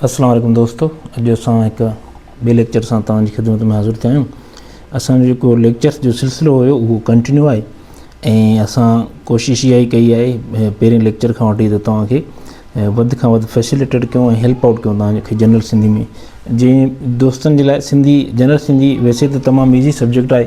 السلام عليڪم دوستو اڄ اسان هڪ ٻئي ليڪچر سان توهان جي خدمت ۾ حاضر ٿيا آهيون اسان جو جيڪو ليڪچرس جو سلسلو هيو اهو ڪنٽينيو آهي ۽ اسان ڪوشش اها ئي ڪئي آهي پهرين ليڪچر کان وٺي ته توهان کي وڌ کان وڌ فيسيليٽيٽ ڪيون ۽ هيلپ آؤٽ ڪيون توهان کي جنرل سنڌي ۾ جنهن دوستن جي لاء سنڌي جنرل سنڌي ويسي ته تمام ايزي سبجيڪٽ آهي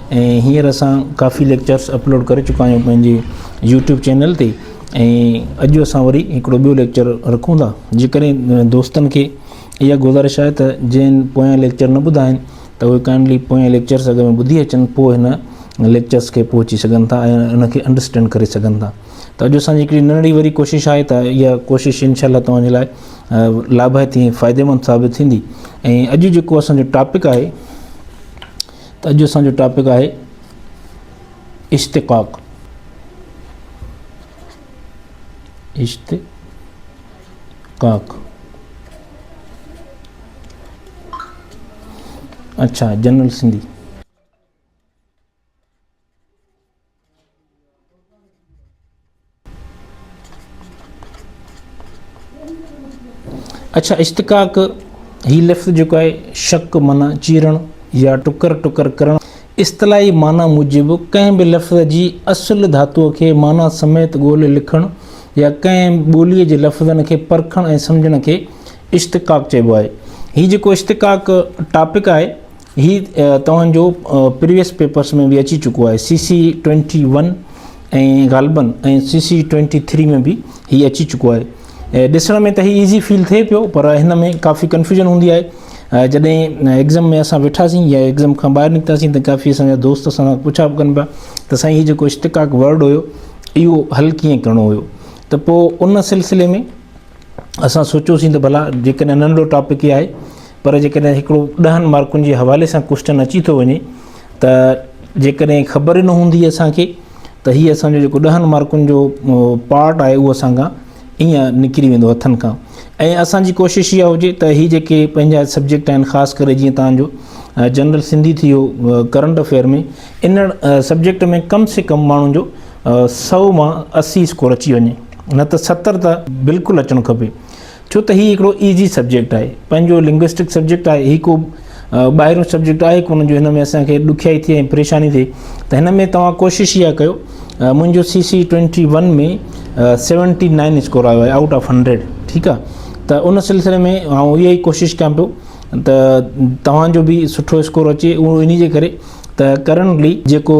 ۽ هينئر اسان ڪافي ليڪچرس اپلوڊ ڪري چڪا آهيون پنهنجي يوٽيوب چينل تي ۽ اڄ اسان وري هڪڙو ٻيو ليڪچر رکون ٿا جيڪڏهن دوستن کي اها گذارش آهي ته جن پويان ليڪچر نه ٻڌا آهن ته اهي ڪائنڊلي پويان ليڪچرس اگر ۾ ٻڌي اچن پوء هن ليڪچرس کي پهچي سگهن ٿا ۽ ان کي انڊرسٽينڊ ڪري سگهن ٿا ته اڄ اسانجي هڪڙي ننڍڙي وري ڪوشش آهي ته اها ڪوشش انشاء الله توهان جي لاء لاڀائتي ۽ فائديمند ثابت ٿيندي ۽ اڄ جيڪو اسانجو ٽاپڪ آهي ته اڄ اسان جو ٽاپڪ آهي اشتقاق اشتقاق اچھا جنرل سنڌي اڇا اشتقاق هي لفظ جيڪو آهي شق معنيٰ چيرڻ يا ٽڪر ٽڪر ڪرڻ اصطلاحي معنيٰ موجب ڪنهن به لفظ جي اصل ڌاتوء کي معنيٰ سميت ڳولي لکڻ يا ڪنهن ٻوليء جي لفظن کي پرکڻ ۽ سمجهڻ کي اشتقاق چئبو آهي هي جيڪو اشتقاق ٽاپڪ آهي هي توهان جو پريويس پيپرس ۾ به اچي چڪو آهي سي سي ٽوئنٽي ون ۽ غالبن ۽ سي سي ٽوئنٽي ٿري ۾ به هي اچي چڪو آهي ڏسڻ ۾ ته هي ايزي فيل ٿئي پيو پر هن ۾ ڪافي ڪنفيوجن هوندي آهي جڏهن ايگزم ۾ اسان ويٺاسين يا ايگزم کان ٻاهر نڪتاسين ته ڪافي اسان جا دوست اسان کان پڇا به ڪن پيا ته سائين هي جيڪو اشتقاق ورڊ هيو اهو حل ڪيئن ڪرڻو هيو ته پوء ان سلسلي ۾ اسان سوچيوسين ته ڀلا جيڪڏهن ننڍڙو ٽاپڪ ئي آهي پر جيڪڏهن هڪڙو ڏهن مارڪن جي حوالي سان ڪوشچن اچي ٿو وڃي ته جيڪڏهن خبر ئي نه هوندي اسان کي ته هي اسان جو جيڪو ڏهن مارڪن جو پارٽ آهي اهو اسان کان ائين نڪري ويندو هٿن کان ۽ اسان جي ڪوشش اها هجي ته هي جيڪي پنهنجا سبجيڪٽ آهن خاص ڪري جيئن تان جو جنرل سنڌي ٿي ويو ڪرنٽ افيئر ۾ ان سبجيڪٽ ۾ ڪم سي ڪم ماڻهن جو سؤ مان اسي اسڪور اچي وڃي نه ته ستر ته بلڪل اچڻ کپي ڇو ته هي هڪڙو ايزي سبجيڪٽ آهي پنهنجو لنگوسٽڪ سبجيڪٽ آهي هي ڪو ٻاهريون سبجيڪٽ آهي ڪونه جو هن ۾ اسان کي ڏکيائي ٿئي ۽ پريشاني ٿئي ته هن ۾ توهان ڪوشش اها ڪيو منهنجو C C twenty one ۾ seventy nine score آيو آهي آؤٽ آف هنڊريڊ ٺيڪ آهي ته ان سلسلي ۾ آئون اها ئي ڪوشش ڪيان پيو ته توهان جو به سٺو اسڪور اچي اهو ان جي ڪري ته ڪرنٽلي جيڪو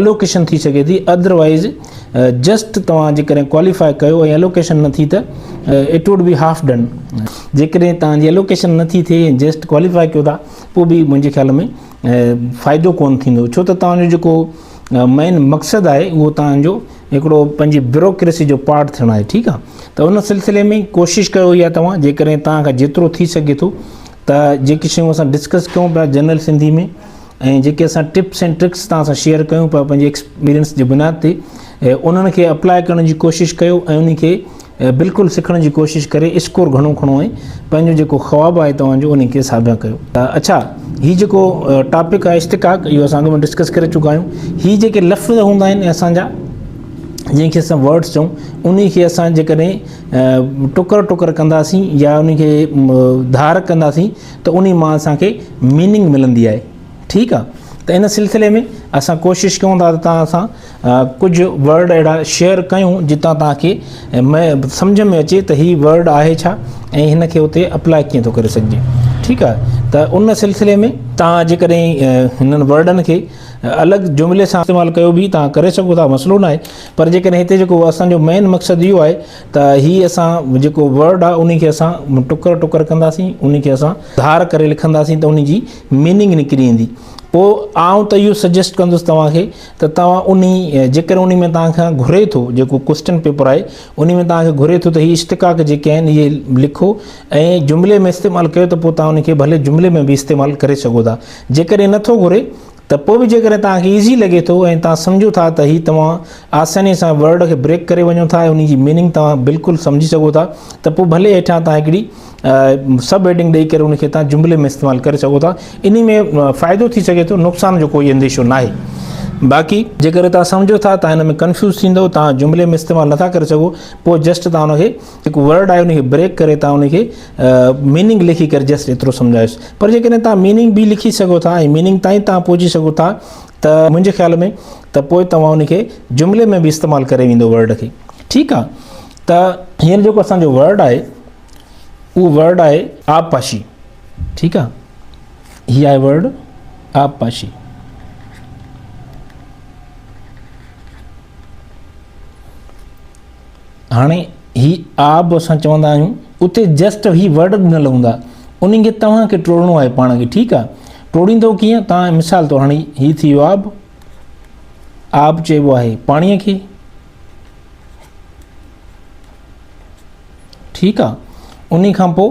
الوڪيشن ٿي سگهي ٿي اڌر وائيز جسٽ توهان جيڪڏهن ڪواليفائي ڪيو ۽ الوڪيشن نه ٿي ته it would be half done جيڪڏهن توهان جي الوڪيشن نه ٿي ٿئي ۽ جسٽ ڪواليفائي ڪيو ٿا پوء به منهنجي خيال ۾ فائدو ڪون ٿيندو ڇو ته توهان جو جيڪو مين مقصد آهي اهو توهان جو هڪڙو پنهنجي بيوروڪريسي جو پارٽ ٿيڻ آهي ٺيڪ آهي ته ان سلسلي ۾ ڪوشش ڪيو يا توهان جيڪڏهن توهان کان جيترو ٿي سگهي ٿو ته جيڪي شيون اسان ڊسڪس ڪيون پيا جنرل سنڌي ۾ ۽ جيڪي اسان ٽپس ۽ ٽرڪس توهان سان شيئر ڪيون پيا پنهنجي ايڪسپيرينس جي بنياد تي انهن کي اپلائي ڪرڻ جي ڪوشش ڪيو ۽ انهي کي بلڪل سکڻ جي ڪوشش ڪري اسڪور گهڻو کڻو ۽ پنهنجو جيڪو خواب آهي توهان جو انهي کي ساڀيان ڪيو اڇا هي جيڪو ٽاپڪ آهي اشتقاق اهو اسان اڳ ۾ ڊسڪس ڪري چڪا آهيون هي جيڪي لفظ هوندا آهن اسان جا جنهن کي اسان ورڊس چئون انهي کي اسان جيڪڏهن ٽڪر ٽڪر ڪنداسين يا انهي کي ڌار ڪنداسين ته انهي مان اسان کي ميننگ ملندي آهي ٺيڪ آهي ته ان سلسلي ۾ اسان ڪوشش ڪيون ٿا ته توهان سان ڪجهه ورڊ اهڙا شيئر ڪيون جتان توهان کي سمجهه ۾ اچي ته هي ورڊ آهي ڇا ۽ هن کي اتي اپلائي ڪيئن ٿو ڪري سگهجي ٺيڪ آهي ته ان سلسلي ۾ توهان جيڪڏهن هنن ورڊن کي الڳ جملي سان استعمال ڪيو به توهان ڪري سگهو ٿا مسئلو ناهي پر جيڪڏهن هتي جيڪو اسان جو مين مقصد اهو آهي ته هي اسان جيڪو ورڊ آهي انهي کي اسان ٽڪر ٽڪر ڪنداسين انهي کي اسان ڌار ڪري لکنداسين ته انهي جي ميننگ نڪري ايندي پوء آئون ته اهو سجيسٽ ڪندس توهان کي ته توهان انهي جيڪڏهن انهي ۾ توهان کان گهري ٿو جيڪو ڪوسٽن پيپر آهي انهي ۾ توهان کي گهري ٿو ته هي اشتقاق جيڪي آهن اهي لکو ۽ جملي ۾ استعمال ڪيو ته پوء توهان انهي کي ڀلي جملي ۾ به استعمال ڪري سگهو ٿا جيڪڏهن نٿو گهري ته پوء به جيڪڏهن توهان کي ايزي لڳي ٿو ۽ توهان سمجهو ٿا ته هي توهان آساني سان ورڊ کي بريڪ ڪري وڃو ٿا ۽ انهي جي ميننگ توهان بلڪل سمجهي سگهو ٿا ته پوء ڀلي هيٺان توهان هڪڙي سب هيڊنگ ڏئي ڪري انهي کي توهان جملي ۾ استعمال ڪري سگهو ٿا انهي ۾ فائدو ٿي سگهي ٿو نقصان جو ڪوئي انديشو ناهي باقي جيڪڏهن توهان سمجهو ٿا توهان ان ۾ ڪنفيوز ٿيندؤ توهان جملي ۾ استعمال نٿا ڪري سگهو پوء جسٽ توهان ان کي جيڪو ورڊ آهي ان کي بريڪ ڪري تان ان کي ميننگ لکي ڪري جسٽ ايترو سمجهايس پر جيڪڏهن تان ميننگ به لکي سگهو ٿا ۽ ميننگ تائين تان پهچي سگهو ٿا ته منهنجي خيال ۾ ته پوء توهان ان کي جملي ۾ به استعمال ڪري ويندو ورڊ کي ٺيڪ آ ته هينئر جيڪو اسان جو ورڊ آهي اهو ورڊ آهي آب پاشي ٺيڪ آ هي آهي ورڊ آب پاشي هاڻي هي آب اسان چوندا آهيون اتي جسٽ هي ورڊ ڏنل هوندا انهن کي توهان کي ٽوڙڻو آهي پاڻ کي ٺيڪ آهي ٽوڙيندو ڪيئن توهان مثال طور هاڻي هي ٿي ويو آب آب چئبو آهي پاڻي کي ٺيڪ آهي ان کان پوء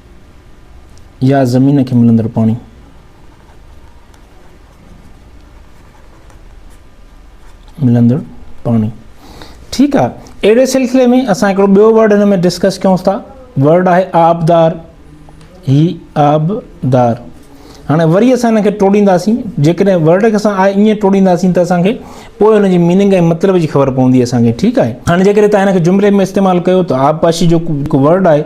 يا زمين کي ملندڙ پاڻي. ملندڙ پاڻي ٺيڪ آ اهڙي سلسلي ۾ اسان هڪڙو ٻيو ورڊ هن ۾ ڊسڪس ڪيون ٿا ورڊ آهي آبدار هي آبدار هاڻي وري اسان هن کي ٽوڙينداسين جيڪڏهن ورڊ کي اسان ائين ٽوڙينداسين ته اسان کي پوء هن جي ميننگ ۽ مطلب جي خبر پوندي اسان کي ٺيڪ آهي هاڻي جيڪڏهن تان هن کي جملي ۾ استعمال ڪيو ته آبپاشي جو ورڊ آهي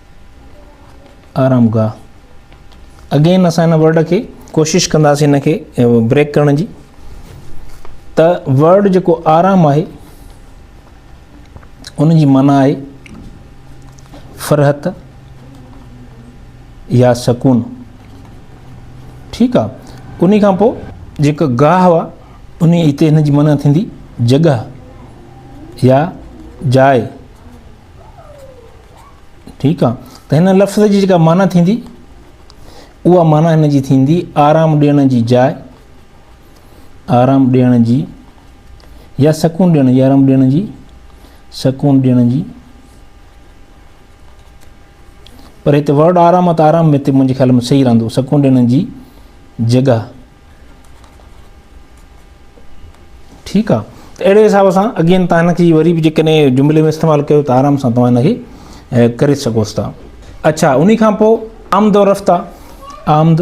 آرام گاهه اگين اسان هن ورڊ کي ڪوشش ڪنداسين هن کي بريڪ ڪرڻ جي ته ورڊ جيڪو آرام آهي ان جي معنی آهي فرحت يا سڪون ٺيڪ آ ان کان پو جيڪو گاهه هوا ان هتي هن جي معنی ٿيندي جڳهه يا جاء ٺيڪ آ ته هن لفظ جي جيڪا معنيٰ ٿيندي اها معنيٰ هن جي ٿيندي آرام ڏيڻ جي جاء آرام ڏيڻ جي يا سڪون ڏيڻ جي آرام ڏيڻ جي سڪون ڏيڻ جي پر هتي ورڊ آرام آ ته آرام هتي منهنجي خيال ۾ صحيح رهندو سڪون ڏيڻ جي جڳهه ٺيڪ آ ته اهڙي حساب سان اگين تان هن کي وري به جيڪڏهن جملي ۾ استعمال ڪيو ته آرام سان توهان هن کي ڪري سگهوس ٿا اڇا انهي کان پوء آمد و رفت آ آمد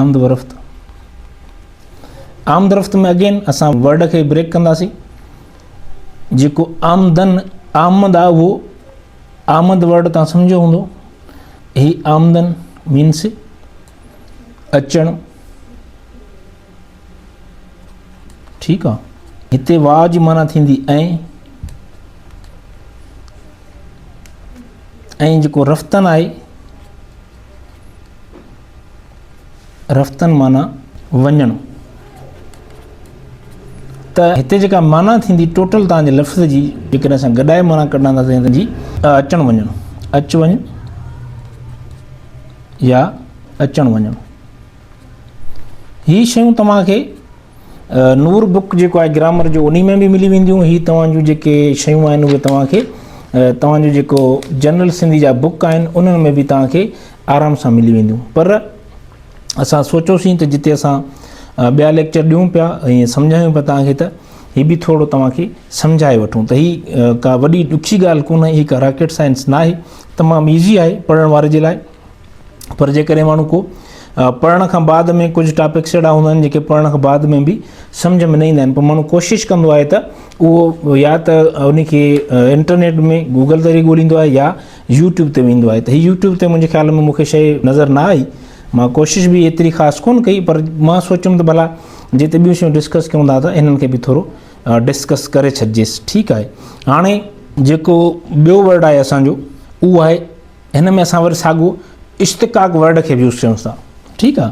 آمد و رفت آمد رفت ۾ اگين اسان ورڊ کي بريڪ ڪنداسين جيڪو آمدن آمد آ اهو آمد ورڊ توهان سمجهيو هوندو هي آمدن مينس اچڻ ٺيڪ آ هتي وا جي معنی ٿيندي ۽ ۽ جيڪو رفتن آهي رفتن معنيٰ وڃڻ ته هتي جيڪا معنيٰ ٿيندي ٽوٽل تان جي لفظ جي جيڪڏهن اسان گڏائي معنيٰ ڪڍنداسين ته جي اچڻ وڃڻ اچ وڃ يا اچڻ وڃڻ هي شيون توهان کي نور بک جيڪو آهي گرامر جو انهي ۾ به ملي وينديون هي توهان جون جيڪي شيون آهن اهي توهان کي توهان جو جيڪو جنرل سنڌي جا بک آهن انهن ۾ به توهان کي آرام سان ملي وينديون پر اسان سوچيوسين ته جتي اسان ٻيا ليڪچر ڏيون پيا ۽ سمجهايون پيا توهان کي ته هي به ٿورو توهان کي سمجهائي وٺون ته هي ڪا وڏي ڏکي ڳالهه ڪونه هي ڪا راڪيٽ سائنس ناهي تمام ايزي آهي پڙهڻ واري جي لاء پر جيڪڏهن ماڻهو کو پڙهڻ کان بعد ۾ ڪجهه ٽاپڪس اهڙا هوندا آهن جيڪي پڙهڻ کان بعد ۾ به سمجھ ۾ نه ايندا آهن پر ماڻهو ڪوشش ڪندو آهي ته اهو يا ته ان کي انٽرنيٽ ۾ گوگل ذريعي ڳوليندو آهي يا يوٽيوب تي ويندو آهي ته هي يوٽيوب تي منهنجي خيال ۾ مون کي شيء نظر نه آئي مان ڪوشش به ايتري خاص ڪونه ڪئي پر مان سوچيم ته ڀلا جي ته ٻيون شيون ڊسڪس ڪيون ٿا ته انهن کي به ٿورو ڊسڪس ڪري ڇڏجيس ٺيڪ آهي هاڻي جيڪو ٻيو ورڊ آهي اسانجو اهو آهي هن ۾ اسان وري ساڳو اشتقاق ورڊ کي به يوز ڪيون ٿا ٺيڪ آهي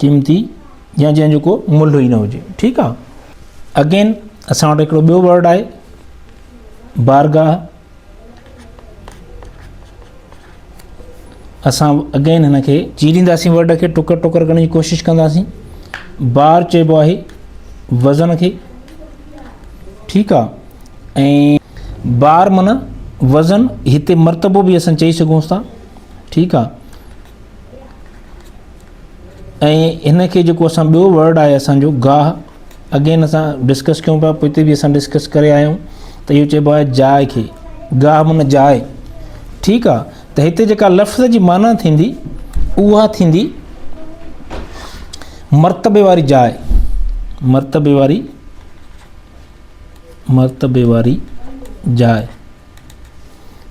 قيمتي يا جنهن جو ڪو ملهه ئي نه هجي ٺيڪ آ اگين اسان وٽ هڪڙو ٻيو ورڊ آهي بارگاهه اسان اگين هن کي چيرينداسين ورڊ کي ٽڪر ٽڪر ڪرڻ جي ڪوشش ڪنداسين بار چئبو آهي وزن کي ٺيڪ آ ۽ بار من وزن هتي مرتبو به اسان چئي سگهون ٿا ٺيڪ آ ۽ هن کي جيڪو اسان ٻيو ورڊ آهي اسانجو گاهه اگين اسان ڊسڪس ڪيون پيا پوء به اسان ڊسڪس ڪري آيا آهيون ته اهو چئبو آهي جاء کي گاهه من جاء ٺيڪ آ ته هتي جيڪا لفظ جي معنيٰ ٿيندي اها ٿيندي مرتبي واري جاء مرتبي واري مرتبي واري جاء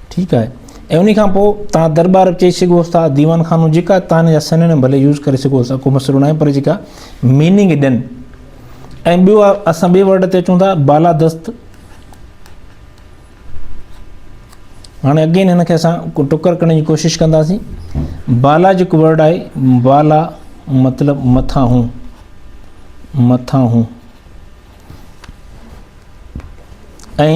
ٺيڪ آهي ۽ انهي کان پوء توهان درٻار به چئي سگهوس ٿا ديوان خانو جيڪا تان جا سنينم ڀلي يوز ڪري سگهوس ٿا ڪو مسئلو ناهي پر جيڪا ميننگ ڏين ۽ ٻيو اسان ٻي ورڊ تي اچون ٿا بالا دست هاڻي اگين هن کي اسان ٽڪر ڪرڻ جي ڪوشش ڪنداسين بالا جيڪو ورڊ آهي بالا مطلب مٿان هون مٿان هون ۽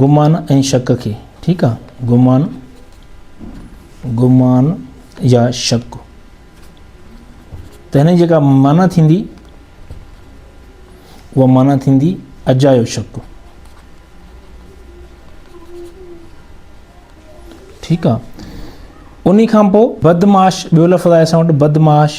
گمان ۽ شڪ کي ٺيڪ آ گمان گمان يا شڪ تنهن جيڪا معنی ٿيندي اها معنی ٿيندي اجايو شڪ ٺيڪ آ انهي کان پوء بدمعاش ٻيو لفظ آهي اسان وٽ بدمعاش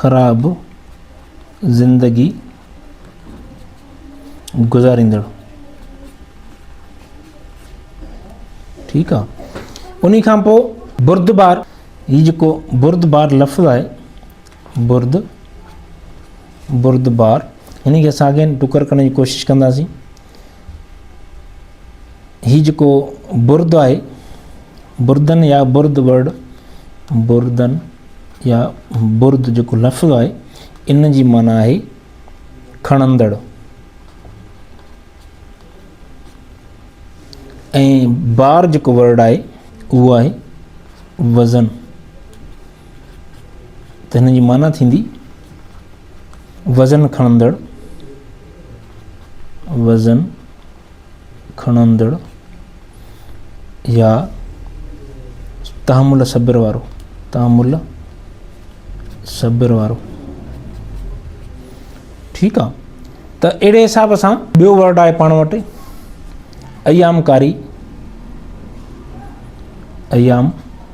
خراب زندگي گذاريندڙ ٺيڪ آ انهي کان پو بردبار هي جيڪو بردبار لفظ آهي برد بردبار هن کي اسان اڳين ٽڪر ڪرڻ جي ڪوشش ڪنداسين هي جيڪو برد آهي، بردن يا برد ورڊ بردن يا برد جيڪو لفظ آهي ان جي معنی آهي کڻندڙ ۽ بار جيڪو ورڊ آهي اهو آهي وزن ته هن جي معنيٰ ٿيندي وزن کڻندڙ وزن کڻندڙ يا تحمل صبر وارو تحمل صبر وارو ٺيڪ آهي ته اهڙي حساب سان ٻيو ورڊ آهي پاڻ وٽ ايام ڪاري ايام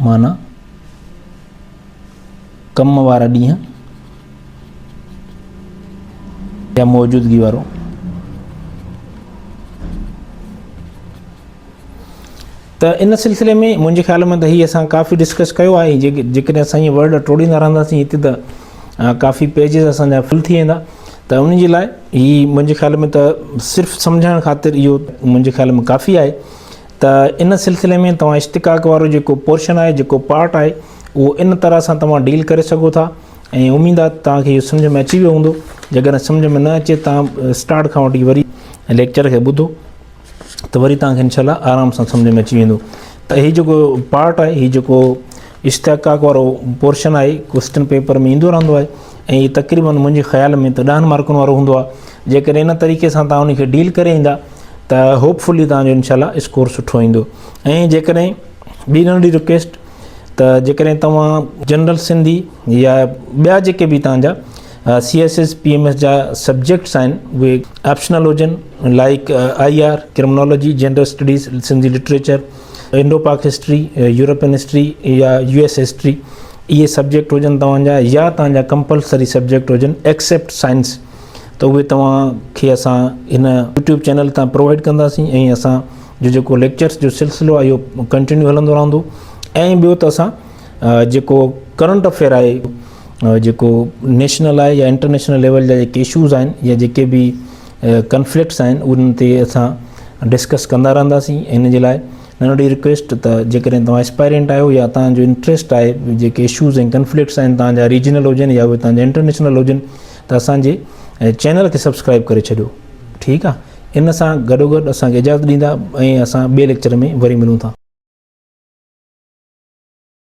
معنيٰ، ڪم وارا ڏينهن يا موجودگي وارو ته ان سلسلي ۾ منهنجي خيال ۾ ته هي اسان ڪافي ڊسڪس ڪيو آهي جيڪڏهن اسان هي ورڊ ٽوڙيندا رهنداسين هتي ته ڪافي پيجز اسان جا فل ٿي ويندا ته ان جي لاء هي منهنجي خيال ۾ ته صرف سمجهائڻ خاطر اهو منهنجي خيال ۾ ڪافي آهي ته ان سلسلي ۾ توهان اشتقاق وارو جيڪو پورشن آهي جيڪو پارٽ آهي اهو ان طرح سان توهان ڊيل ڪري سگهو ٿا ۽ اميد آهي ته توهان کي اهو سمجهه ۾ اچي ويو هوندو جيڪڏهن سمجهه ۾ نه اچي توهان اسٽارٽ کان وٺي وري ليڪچر کي ٻڌو ته وري توهان کي انشاء الله آرام سان سمجهه ۾ اچي ويندو ته هي جيڪو پارٽ آهي هي جيڪو اشتقاق وارو پورشن آهي ڪوسٽن پيپر ۾ ايندو رهندو آهي ۽ هي تقريبن منهنجي خيال ۾ ته ڏهن مارڪن وارو هوندو آهي جيڪڏهن ان طريقي سان تان ان کي ڊيل ڪري ايندا ته هوپ فلي تان جو انشاء الله اسڪور سٺو ايندو ۽ جيڪڏهن ٻي ننڍي رڪويسٽ ته جيڪڏهن توهان جنرل سنڌي يا ٻيا جيڪي به تان جا C S S P M S جا سبجيڪٽس آهن اهي آپشنل هجن like I R criminology general studies Sindhi literature Indo Pak history, European history يا يو ايس هسٽري اهي سبجيڪٽ هجن توهان جا يا توهان جا ڪمپلسري سبجيڪٽ هجن ايڪسيپٽ سائنس ته اهي توهان کي اسان هن يوٽيوب چينل تان پرووائيڊ ڪنداسين ۽ اسان جو جيڪو ليڪچرس جو سلسلو آهي اهو ڪنٽينيو هلندو رهندو ۽ ٻيو ته اسان جيڪو ڪرنٽ افيئر آهي جيڪو نيشنل آهي يا انٽرنيشنل ليول جا جيڪي اشوز آهن يا جيڪي به ڪنفلڪٽس آهن انهن تي اسان ڊسڪس ڪندا رهنداسين ان جي لاء ننڍڙي رڪويسٽ ته جيڪڏهن توهان اسپائرينٽ آهيو يا توهان جو انٽرسٽ آهي جيڪي اشوز ۽ ڪنفلڪٽس آهن توهان جا ريجنل هجن يا توهان جا انٽرنيشنل هجن ته اسان جي چينل کي سبسڪرائب ڪري ڇڏيو ٺيڪ آهي ان سان گڏو گڏ اسان کي اجازت ڏيندا ۽ اسان ٻئي ليڪچر ۾ وري ملون ٿا